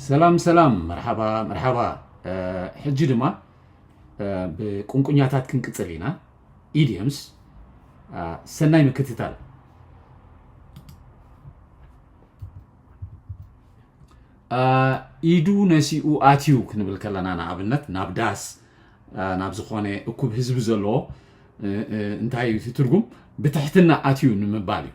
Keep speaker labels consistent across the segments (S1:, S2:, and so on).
S1: ሰላም ሰላም መርሓባ መርሓባ ሕጂ ድማ ብቁንቁኛታት ክንቅፅል ኢና ኢዲየምስ ሰናይ ምክትታል ኢዱ ነሲኡ ኣትዩ ክንብል ከለና ንኣብነት ናብ ዳስ ናብ ዝኾነ እኩብ ህዝቢ ዘለዎ እንታይ እዩ ትርጉም ብትሕትና ኣትዩ ንምባል እዩ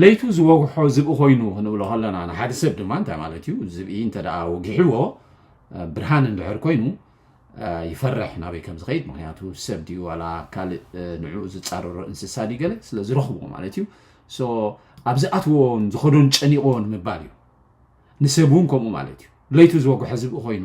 S1: ለይቱ ዝወግሖ ዝብኢ ኮይኑ ክንብሎ ከለና ንሓደ ሰብ ድማ እንታይ ማለት እዩ ዝብኢ እንተ ወጊሕዎ ብርሃን እንድሕር ኮይኑ ይፈርሕ ናበይ ከም ዝኸይድ ምክንያቱ ሰብ ድዩ ዋላ ካልእ ንዕኡ ዝፃረሮ እንስሳ ድዩ ገለ ስለ ዝረኽብዎ ማለት እዩ ኣብ ዝኣትዎን ዝኸዶን ጨኒቕዎ ንምባል እዩ ንሰብ እውን ከምኡ ማለት እዩ ለይቱ ዝወግሖ ዝብኢ ኮይኑ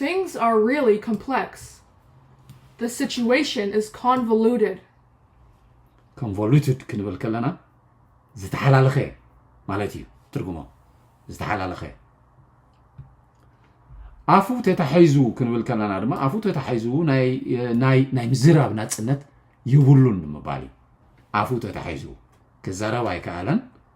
S2: Things are really complex. The situation is convoluted.
S1: ኮንቮሉትድ ክንብል ከለና ዝተሓላለኸ ማለት እዩ ትርጉሞ ዝተሓላለኸ ኣፉ ተታሒዙ ክንብል ከለና ድማ ኣፉ ተታሒዙ ናይ ምዝራብ ናፅነት የብሉን ንምባል እዩ ኣፉ ተታሒዙ ክዛረብ ኣይከኣለን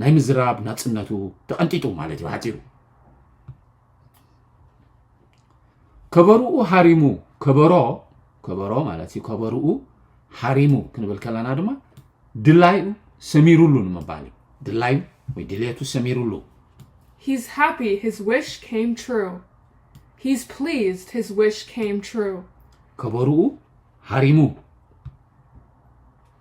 S1: ናይ ምዝራብ ናጽነቱ ተቐንጢጡ ማለት እዩ ብሓጺሩ ከበርኡ ሃሪሙ ከበሮ ከበሮ ማለት እዩ ከበርኡ ሃሪሙ ክንብል ከለና ድማ ድላዩ ሰሚሩሉ ንምባል እዩ ድላዩ ወይ ድሌቱ ሰሚሩሉ He's
S2: happy his wish came true. He's pleased his wish came true. ከበርኡ
S1: ሃሪሙ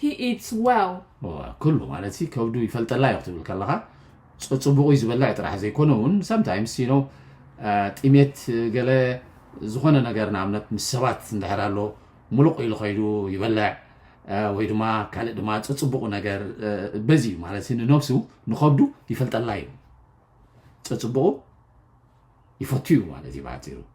S2: He eats well. ኩሉ ማለት
S1: ሲ ከብዱ ይፈልጠላ እዩ ክትብል ከለኻ ጽቡቁ እዩ ዝበልዕ ጥራሕ ዘይኮነ እውን ሰምታይምስ ዩ ነው ጢሜት ገለ ዝኾነ ነገር ንኣብነት ምስ ሰባት እንድሕር ኣሎ ሙሉቕ ኢሉ ከይዱ ይበልዕ ወይ ድማ ካልእ ድማ ጽጽቡቁ ነገር በዚ እዩ ማለት ንነብሱ ንኸብዱ ይፈልጠላ እዩ ጽጽቡቁ ይፈቱ እዩ ማለት እዩ ብሓፂሩ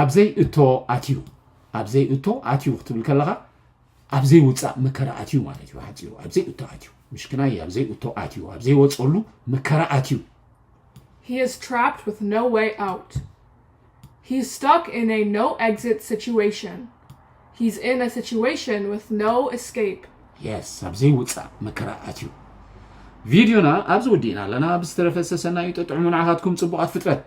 S1: ኣብ ዘይእቶ ኣትዩ ኣብ ዘይእቶ ኣትዩ ክትብል ከለኻ ኣብ ዘይውፃእ መከራ ኣትዩ ማለት እዩ ሓፂሩ ኣብ ዘይእቶ ኣትዩ ምሽክናይ ኣብ ዘይእቶ ኣትዩ ኣብ ዘይወፀሉ መከራ ኣትዩ He
S2: is trapped with no way out. He's stuck in a no exit situation. He's in a situation with no escape. የስ ኣብ
S1: ዘይውፃእ መከራ ኣትዩ ቪድዮና ኣብዚ ወዲእና ኣለና ብዝተረፈ ሰሰናዩ ጠጥዑሙ ንዓኻትኩም ፅቡቓት ፍጥረት